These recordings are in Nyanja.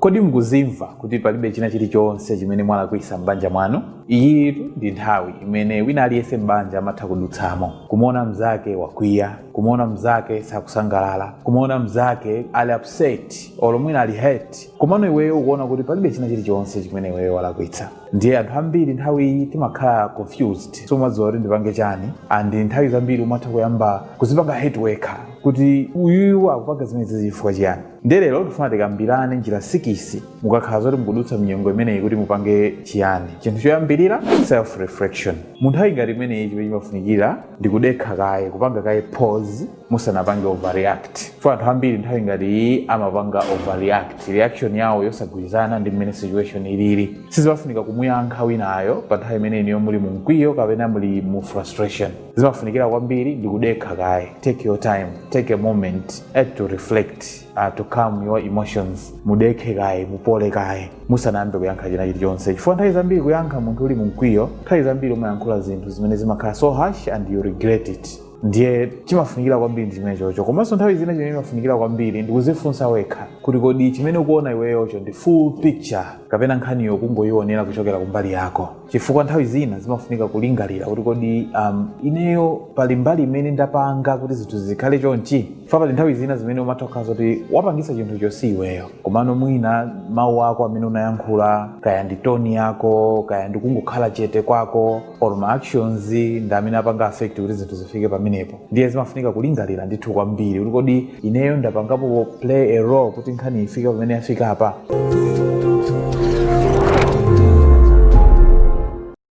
Kodi mukuzimva kuti palibe china chili chonse chimene mwalakwisa m'banja mwanu? Iyitu ndi nthawi imene wina aliyense m'banja amatha kudutsamo. Kumuona mzake wakwiya, kumuona mzake sakusangalala, kumuona mzake ali upset olo mwina ali hurt komano iweyo ukuona kuti palibe china chili chonse chimene iweyo walakwitsa. Ndiye anthu ambiri nthawi iyi timakhala confused, sumadziwa kuti ndipange chani and nthawi zambiri umatha kuyamba kuzipanga hate wekha kuti uyuyu akupanga zimenezi chifukwa chiyani. ndiye lero tifuna tikambirane njira sikisi mukakhala zoti mukudutsa mnyengo imeneyi kuti mupange chiyani chinthu choyambirira self reflection mu nthawi ngati imeneyi chimene chimafunikira ndi kudekha kaye kupanga kaye pause musanapange overreact chifukwa anthu ambiri nthawi ngati iyi amapanga overreact reaction yawo yosagwirizana ndi mmene situation ilili sizimafunika kumuyankha winayo pa nthawi imene inuyo muli mu mkwiyo kapena muli mu frustration zimafunikira kwambiri ndi kudekha kaye take your time take a moment uh to reflect uh, to calm your emotions mudekhe kaye mupole kaye musanayambe kuyankha china chilichonse chifukwa nthawi zambiri kuyankha munthu uli mumkwiyo nthawi zambiri umayankhula zinthu zimene zimakhala so harsh and you regret it ndiye chimafunikira kwambiri ndi chimene chocho komanso nthawi zina chimene chimafunikira kwambiri ndi kuzifunsa wekha kuti kodi chimene ukuona iweyocho ndi full picture kapena nkhaniyo ukungoyionera kuchokera kumbali yako chifukwa nthawi zina zimafunika kulingalira kuti kodi um, ineyo pali mbali imene ndapanga kuti zinthu zikhale chonchi chifukwa pali nthawi zina zimene umatha kukhala zoti wapangisa chinthucho si iweyo komano mwina mawu ako amene unayankhula kaya ndi toni yako kaya ndi kungokhala chete kwako or ma actions ndi amene apanga affect kuti zinthu zifike pamenepo ndiye zimafunika kulingalira ndithu kwambiri kuti kodi ineyo ndapangapo play a role kuti nkhani ifike pamene yafika apa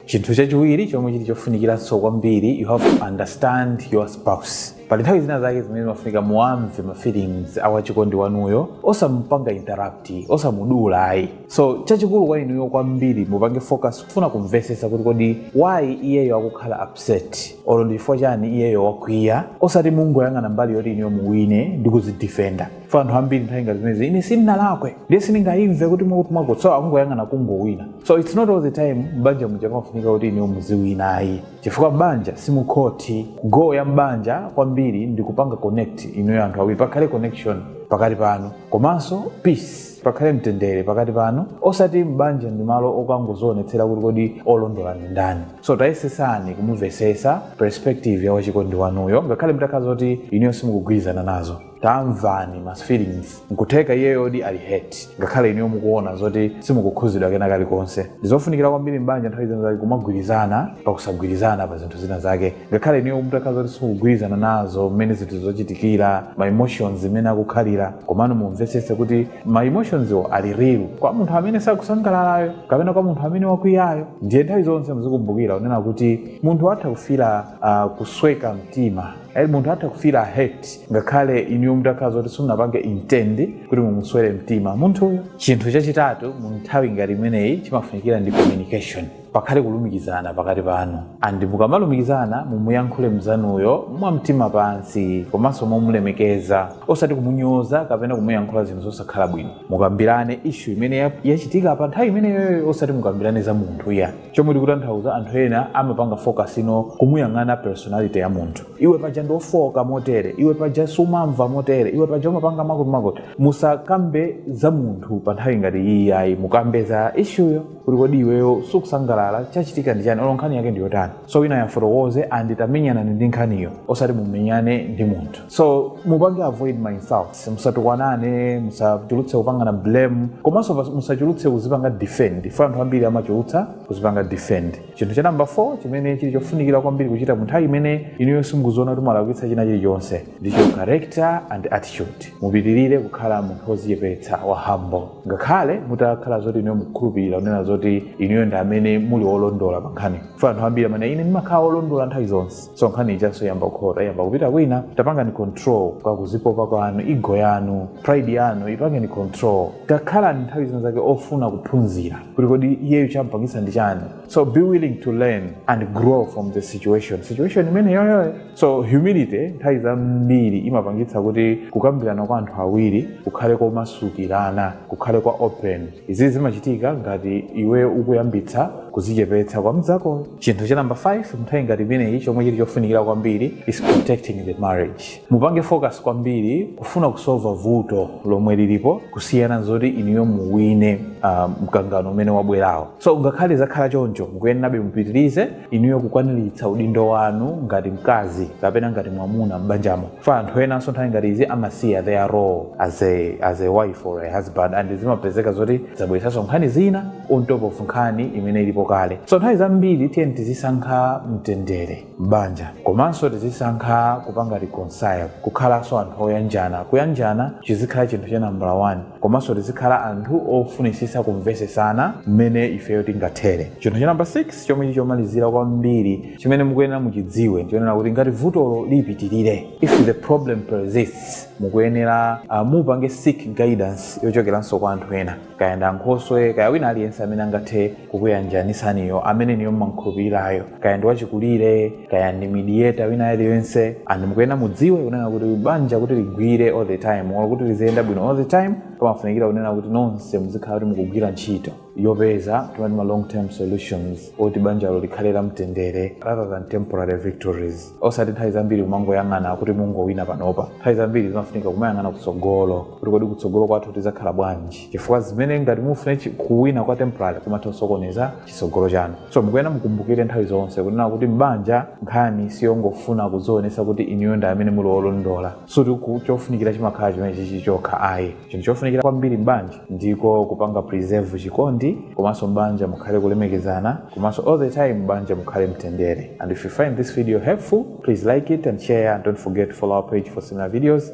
chinthu chachiwiri chomwe chili chofunikiranso kwambiri you have to understand your spouse pali nthawi zina zake zimene zimafunika muwamve ma feelings a wachikondi wanuyo osamupanga interrupt osamudula ayi so chachikulu kwa inuyo kwambiri mupange focus kufuna kumvetsetsa kuti kodi why iyeyo akukhala upset olo ndi chifukwa chani iyeyo wakwiya osati mungoyang'ana mbali yoti inuyo muwine ndi kuzidifenda chifukwa anthu ambiri nthawi ngati zimenezi ine sindinalakwe ndiye sindingayimve kuti mwakuti so akungoyang'ana kungowina so its not all the time mbanja muja imafunika kuti inuyo muziwina ayi chifukwa mbanja si mukhoti goal ya mbanja kwambiri ndi kupanga connect inuyo anthu awiri pakhale connection pakati panu komanso peace pakhale mtendere pakati panu osati m'banja ndi malo okangozionetsera kuti kodi olondola ndi ndani so tayesesani kumumvesesa perspective ya wachikondi wanuyo ngakhale mutakhala zoti inuyo simukugwirizana nazo tamvani ma feelings nkutheka iyeyodi ali hurt ngakhale inuyo mukuona zoti simukukhuzidwa kena kalikonse ndizofunikira kwambiri m'banja nthawi zina zake kumagwirizana pakusagwirizana pa zinthu zina zake ngakhale inuyo mutakhala zoti simukugwirizana nazo mmene zinthu zochitikira ma emotions imene akukhalira komano mumvetsetse kuti ma emotionsiwo ali real kwa munthu amene sakusangalalayo kapena kwa munthu amene wakwiyayo ndiye nthawi zonse muzikumbukira kunena kuti munthu atha kufira uh, kusweka mtima Eh, munthu atha kufira hurt ngakhale inuyo mutakhala zoti simunapange intend kuti mumuswere mtima munthuyo chinthu chachitatu mu nthawi ngati imeneyi chimafunikira ndi communication pakhale kulumikizana pakati panu and mukamalumikizana mumuyankhule mzanuyo mwa mtima pansi komanso momulemekeza osati kumunyoza kapena kumuyankhula zinthu zosakhala bwino mukambirane ishu imene ya- yachitika pa nthawi imeneyoyo osati mukambirane za munthu iya chomwe ndikutanthauza anthu ena amapanga focus on kumuyang'ana personality ya munthu iwe paja ndi ofoka motere iwe paja sumamva motere iwe paja umapanga makotimakoti musakambe za munthu pa nthawi ngati iyi ayi mukambe za ishuyo kuti kodi iweyo sukusangalala chachitika ndi chani olo nkhani yake ndi yotani so wina yafotokoze and tamenyanani ndi nkhaniyo osati mumenyane ndi munthu so mupange avoid ma insults musatukwanane musachulutse kupangana blame komanso pas- musachulutse kuzipanga defend fukwa anthu ambiri amachulutsa kuzipanga defend chinthu cha namba 4 chimene chili chofunikira kwambiri kuchita mu nthawi imene inuyo simukuziona kuti mwalakwitsa china chilichonse ndicho character and attitude mupitirire kukhala munthu wozichepetsa wa humble ngakhale mutakhala zoti inuyo mukukhulupirira kunena zoti inuyo ndi amene muli wolondola pa nkhani fukwa anthu ambiri amati ine ndimakhala wolondola nthawi zonse so nkhani ichanso yamba kukhota yamba kupita kwina tapangani control kwa kuzipopa kwanu ego yanu pride yanu ipangeni control takhalani nthawi zina zake ofuna kuphunzira kuti kodi iyeyo champangisa ndi chani so be willing to learn and grow from the situation situation imeneyoyoyo so humility nthawi zambiri imapangitsa kuti kukambirana kwa anthu awiri kukhale komasukirana kukhale kwa open izi zimachitika ngati iwe ukuyambitsa kuzichepetsa kwa mzakoyo chinthu cha namba 5 mu nthawi ngati imeneyi chomwe chili chofunikira kwambiri is protecting the marriage mupange focus kwambiri kufuna kusolva vuto lomwe lilipo kusiyana nzoti inuyo muwine uh, mkangano umene wabwerawo so ngakhale zakhala choncho mukuyenerabe mupitirize inuyo kukwaniritsa udindo wanu ngati mkazi kapena ngati mwamuna m'banjamo fukwa anthu enanso nthawi ngati izi amasiya their role as a, as a wife or a husband and zimapezeka zoti zabweretsanso nkhani zina on top of nkhani imene ilipo kale so nthawi zambiri tiyeni tizisankha mtendere m'banja komanso tizisankha kupanga reconcile kukhalanso anthu oyanjana kuyanjana chizikhala chinthu cha nambala 1 komanso tizikhala anthu ofunitsitsa kumvetsetsana mmene ifeyo tingathere chinthu cha namba 6 chomwe chili chomalizira kwambiri chimene mukuyenera muchidziwe ndichonena kuti ngati vutolo lipitirire if the problem persists mukuyenera uh, mupange seek guidance yochokeranso kwa anthu ena kaya ndi ankhoswe kaya wina aliyense amene angathe kukuyanjanitsaniyo amene inuyo mumamukhulupirirayo kaya ndi wachikulire kaya ndi mediator wina aliyense and mukuyenera mudziwe kunena kuti banja kuti ligwire all the time olo kuti liziyenda bwino all the time pamafunikira kunena kuti nonse muzikhala kuti mukugwira ntchito yopeza timati ma long term solutions oti banjalo likhale la mtendere rather than temporary victories osati nthawi zambiri kumangoyang'ana kuti mungowina panopa nthawi zambiri zimafunika kumayang'ana kutsogolo kuti kodi kutsogolo kwathu tizakhala bwanji chifukwa zimene ngati mufune chi- kuwina kwa temporary kumatha kusokoneza chitsogolo chanu so mukuyenera mukumbukire nthawi zonse kunena kuti m'banja nkhani siyongofuna kudzionesa kuti inuyo ndi amene muli olondola sikuti ku- chofunikira chimakhala chimenechichi chokha ayi chinthu chofunikira kwambiri m'banja ndiko kupanga preserve chikondi komanso m'banja mukhale kulemekezana komanso all the time m'banja mukhale mtendere and if you find this video helpful please like it and share and don't forget to follow our page for similar videos